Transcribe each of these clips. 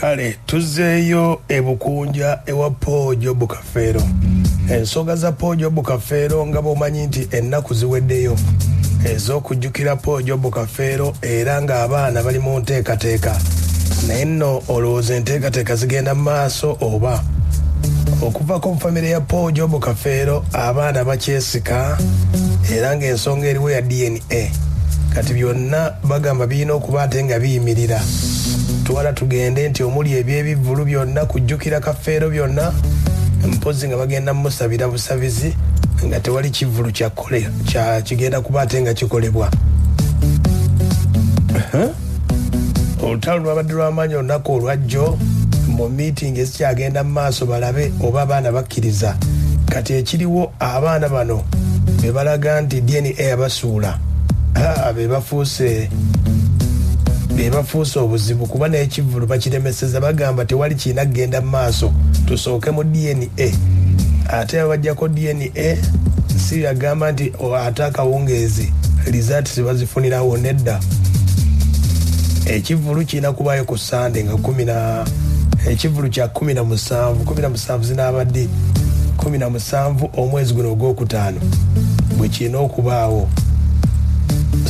Kale tuzzeeyo e Bukunja ewa Paul Job Kafeero. Ensonga za Paul Job Kafeero nga bw'omanyi nti ennaku ziweddeyo ez'okujjukira Paul Job Kafeero era ng'abaana bali mu nteekateeka. Naye nno olowooza enteekateeka zigenda mu maaso oba? Okuvako mu famire ya Paul Job Kafeero abaana bakyesika era ng'ensonga eriwo ya DNA eh, kati byonna bagamba birina okuba ate nga biyimirira twala tugende nti omuli ebyebivvulu byonna kujjukira kafeero byonna mpozi nga bagenda musabira busabizi nga tewali kivvulu kigenda kuba ate nga kikolebwa olutalo lwabadde lwamaanyi olunaku olwajjo mu miitingi ezikyagenda mu maaso balabe oba abaana bakkiriza kati ekiriwo abaana bano be balaga nti dna yabasuula be bafuuse bebafuuse obuzibu kuba n'ekivulu bakiremeseza bagamba tewali kirina kugenda mu maaso tusooke mu dna ate abajjako dna Eh, si agamba nti oh, ate akawungeezi lizati zibazifunirawo nedda ekivulu kirina kubayo ku sande nga kumina ekivulu kya kumi na musanvu kumi na musanvu zinaabadde kumi na musanvu omwezi guno ogwokutaano bwe kirina okubaawo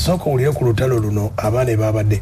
sooka owulire ku lutalo luno abaana ebabadde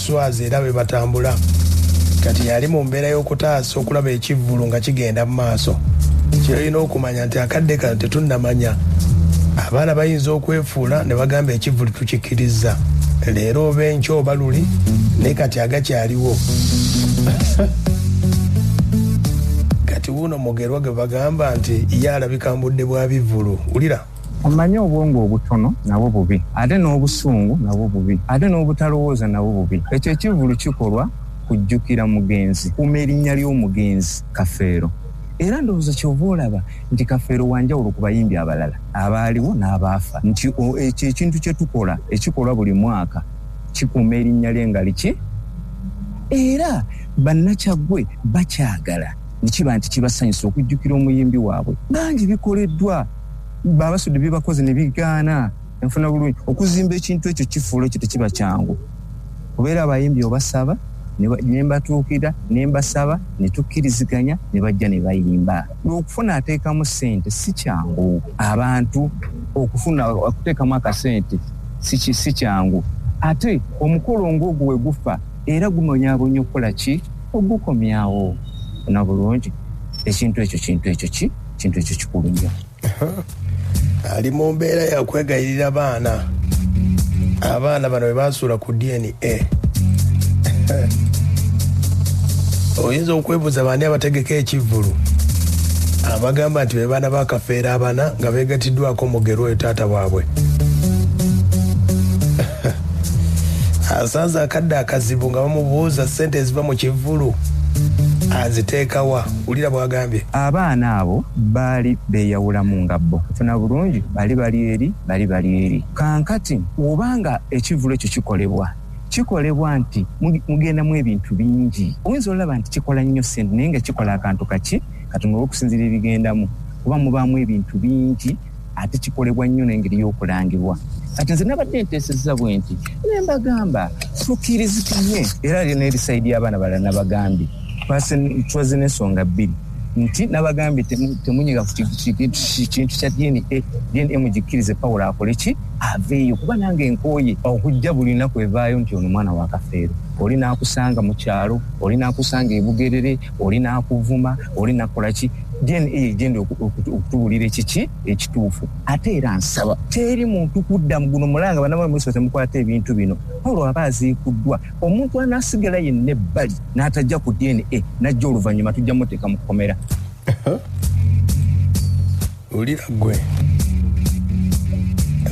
swazi era bwe batambula kati yali mu mbeera y'okutaasa okulaba ekivvulu nga kigenda mu maaso kyolina okumanya nti akadde kano tetunnamanya abaana bayinza okwefuula ne bagamba ekivvulu tukikirizza leero oba enkyo oba luli naye kati agakyaliwo kati wuuno mugerwa gwe bagamba nti ye alabika mbudde bwa bivvulu wulira Omanyi obwongo obutono nabwo bubi, ate n'obusungu nabwo bubi, ate n'obutalowooza nabwo bubi. Ekyo ekivvulu kikolwa kujjukira mugenzi. Kuuma erinnya ly'omugenzi Kafeero. Era ndowooza ky'ova olaba nti Kafeero wa njawulo ku bayimbi abalala abaaliwo n'abaafa, nti ekyo ekintu kye tukola ekikolwa buli mwaka kikuuma erinnya lye nga liki. Era Bannakyaggwe bakyagala ne kiba nti kibasanyusa okujjukira omuyimbi waabwe. Bangi bikoleddwa. baba basudde byebakoze ne bigaana enfuna bulungi okuzimba ekintu ekyo kifuula ekyo tekiba kyangu kubeera abayimbi obasaba ne mbatuukira ne mbasaba ne tukkiriziganya ne bajja ne bayimba okufuna ateekamu ssente si kyangu abantu okufuna okuteekamu akasente si kyangu ate omukolo ng'ogwo we gufa era gumonyabonyo okukola ki ogukomyawo na bulungi ekintu ekyo kintu ekyo ki kintu ekyo kikulu nnyo ali mu mbeera yakwegayirira baana abaana bano bebasuula ku dna oyinza okwebuuza baani abategeka ekivvulu abagamba nti bebaana bakafeera abana nga begatiddwako mugero oyo taata waabwe asanze akadde akazibu nga bamubuuza sente eziva mu kivvulu aziteekawa Wulira bw'agambye. Abaana abo baali beeyawulamu nga bo. Funa bulungi, bali bali eri, bali bali eri. Kankati, oba nga ekivvulu ekyo kikolebwa, kikolebwa nti mugendamu ebintu bingi. Oyinza olaba nti kikola nnyo ssente, naye nga kikola akantu kaki katono olw'okusinziira ebigendamu, kuba mubaamu ebintu bingi. ate kikolebwa nnyo n'engeri y'okulangibwa kati nze nabadde nteesezza bwe nti ne mbagamba tukirizikanye era ali n'ebisayi by'abaana balala nabagambye twaze n'ensonga bbiri nti nabagambye temunyiga ku kintu kya dna dna mugikkirize pawulo akole ki aveeyo kuba nange nkooye okujja buli lunaku evaayo nti ono mwana wa kafeero oli n'akusanga mu kyalo oli n'akusanga ebugerere oli nakuvuma oli nakolaki then eyo egenda okutuwulira ekiki ekituufu ate era nsaba teri muntu kudda muguno mulanga banamwe muso temukwata ebintu bino paulo aba aziikuddwa omuntu anasigala yenna ebbali n'atajja ku dna najja oluvannyuma tujja muteeka mu kkomera Ulira gwe.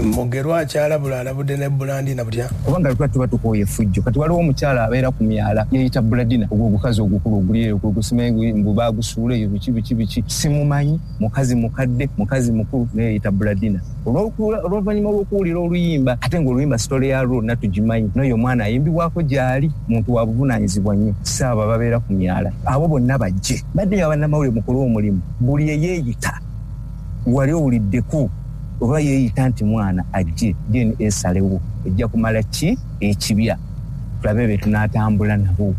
Mugerwa akyalabula alabudde ne Bulandina butya? Oba nga lwaki tuba tukooye effujjo. Kati waliwo omukyala abeera ku myala yeeyita Buladina ogwo ogukazi ogukulu oguli eyo gwe gusima mbu baagusuula eyo biki biki biki. Simumanyi mukazi mukadde mukazi mukulu naye yeeyita Buladina. Olw'oluvannyuma lw'okuwulira oluyimba ate ng'oluyimba sitole ya lwo natugimanyi n'oyo omwana ayimbibwako gy'ali muntu wa buvunaanyizibwa nnyo si abo ababeera ku myala. Abo bonna bajje baddeyo abannamawulire mukole omulimu. buli eyeeyita wali owuliddeko oba yeeyita nti mwana ajje dna esalewo ejja kumala ki ekibya tulabe be tunaatambula nabo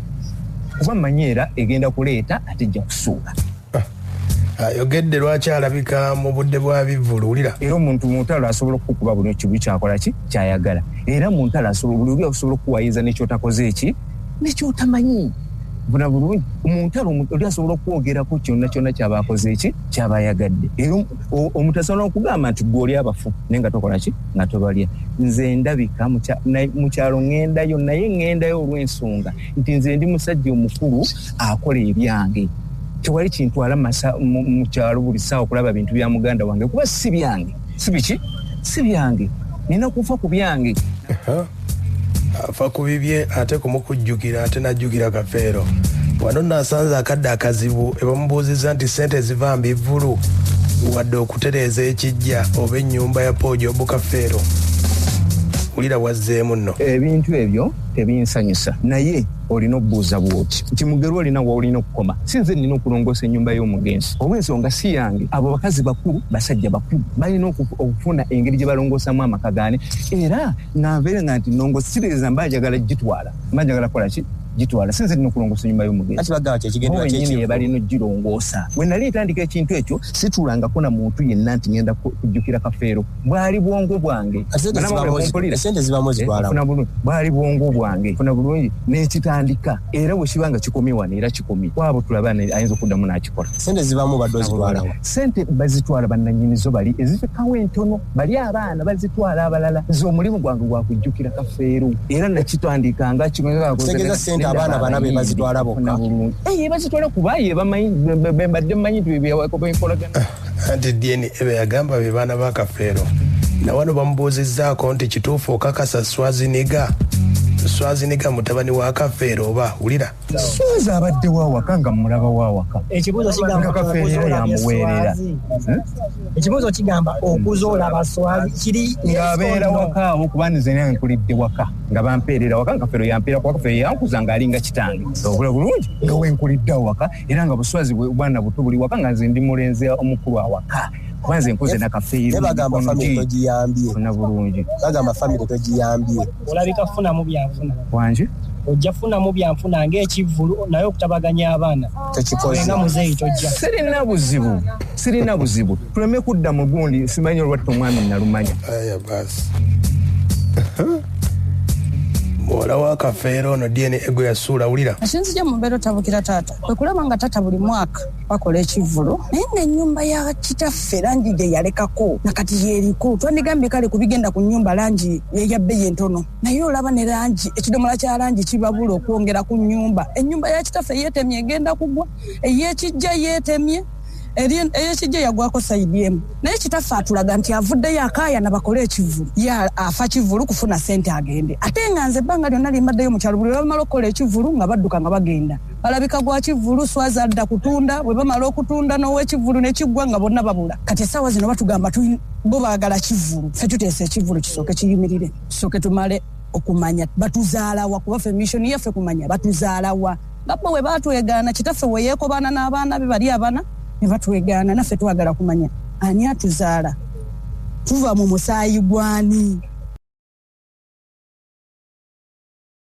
kuba manyi era egenda kuleeta ate ejja kusuula ah, ayogedde lwaki alabika mu budde bwa bivvulu wulira era omuntu mu ntalo asobola okukukuba buli kibu kyakola ki kyayagala era mu ntalo asobola buli oli asobola okukuwayiriza nekyotakoze eki nekyotamanyi bula bulungi omuntalo oli asobola okwogerako kyonna kyonna kyaba akoze eki kyaba ayagadde era omuntu asobola okugamba nti gwe oli abafu naye nga tokola ki nga tobalya nze ndabika mukyalo ŋŋendayo naye ŋŋendayo olw'ensonga nti nze ndi musajja omukulu akola ebyange tewali kintwala mu kyalo buli ssaawa okulaba bintu bya muganda wange kuba si byange si biki si byange nina kufa ku byange afa ku bibye ate kumukujjukira ate najjukira kafeero wano nasanze akadde akazibu ebamubuuzizza nti sente eziva mbivvulu wadde okutereeza ekijja oba ennyumba ya pooja obukafeero wulira wazzeemu nno ebintu ebyo tebinsanyusa naye olina okubuuza bwoti nti mugerwa olina waolina okukoma si nze nina okulongoosa ennyumba y'omugenzi oba ensonga si yange abo bakazi bakulu basajja bakulu balina okufuna engeri gye balongoosamu amaka gaani era nga nveere nga nti nongo siririza mba njagala gitwala mba njagala kukola ki gitwala si nze nina okulongoosa ennyumba y'omugenzinyini ebalina ogirongoosa we nali ntandika ekintu ekyo situlangako na muntu yenna nti ngenda kujjukira kafeero bwali bwongo bwange bwali bwongo bwange funa bulungi nekitandika era wekiba nga kikomye wano era kikomye kwabo tulaba ayinza okuddamu nakikola sente zibamu badozitwala sente bazitwala bananyinizo bali ezifikawo entono bali abaana bazitwala abalala nze omulimu gwange gwakujjukira kafeero era nakitandika nga kitegeza sente abaana bana be bazitwala bokka eh, bazitwala kuba ye bamanyi bembadde manyi tubibyawakobinkolagana anti dna beyagamba be baana ba kafeero nawano bamubuuzizzaako nti kituufu okakasa swaziniga swaziniga mutabani wa kafeero oba wulira swazi abadde wawaka nga mulaba wawaka ekibuuzo kigamba kafeero era yamuweerera hmm? ekibuuzo kigamba okuza olaba swazi kiri ngaabeera waka awo kuba nze naye nkulidde waka nga bampeerera waka nga kafeero yampeera kuba kafeero yankuza ng'alinga kitange obula bulungi nga wenkulidde awaka era nga buswazi bwana buto buli waka nga nze ndi mulenzi omukulu awaka kuba nze nkuze nakafeeribagambafamilytojiyambyefuna bulungi bagamba famire tojiyambye olabika funamu byanfuna wangi ojja funamu byanfuna ngaekivvulu naye okutabaganya abaana tekikoenga muzeeyi tojja sirina buzibu Sirina buzibu tuleme kudda mu gundi simanyi olwatta omwami nalumanya. Aya basi. muwala wa kafeero ono dna ego yasuula wulira asinzija mu mbeera otabukira taata kwe kulaba nga taata buli mwaka bakola ekivvulu naye nga ennyumba ya kitaffe langi gye yalekako na kati yeeriko twandigambye kale ku bigenda ku nnyumba langi yeya bbeyi entono naye olaba ne langi ekidomola kya langi kibabula okwongera ku nnyumba ennyumba ya kitaffe yeetemye egenda kugwa ey'ekijja yeetemye eyekijja yagwako saidi emu naye kitaffe atulaga nti avuddeyo akaayana bakole ekivulu ye afa kivulu kufuna sente agende ate nga nze ebbanga lyonna limbaddeyo mukyalo buli webamala okukola ekivulu nga badduka nga bagenda balabika gwa kivulu swaza adda kutunda bwe bamala okutunda n'owekivulu ne kiggwa nga bonna babula kati essaawa zino batugamba bo baagala kivulu fe tuteesa ekivulu kisooke kiyimirire kisooke tumale okumanya batuzaalawa kuba fe missioni yaffe kumanya batuzaalawa nga bo bwe baatwegaana kitaffe we yeekobaana n'abaana be bali abana ne batwegaana naffe twagala kumanya ani atuzaala tuva mu musaayi gwani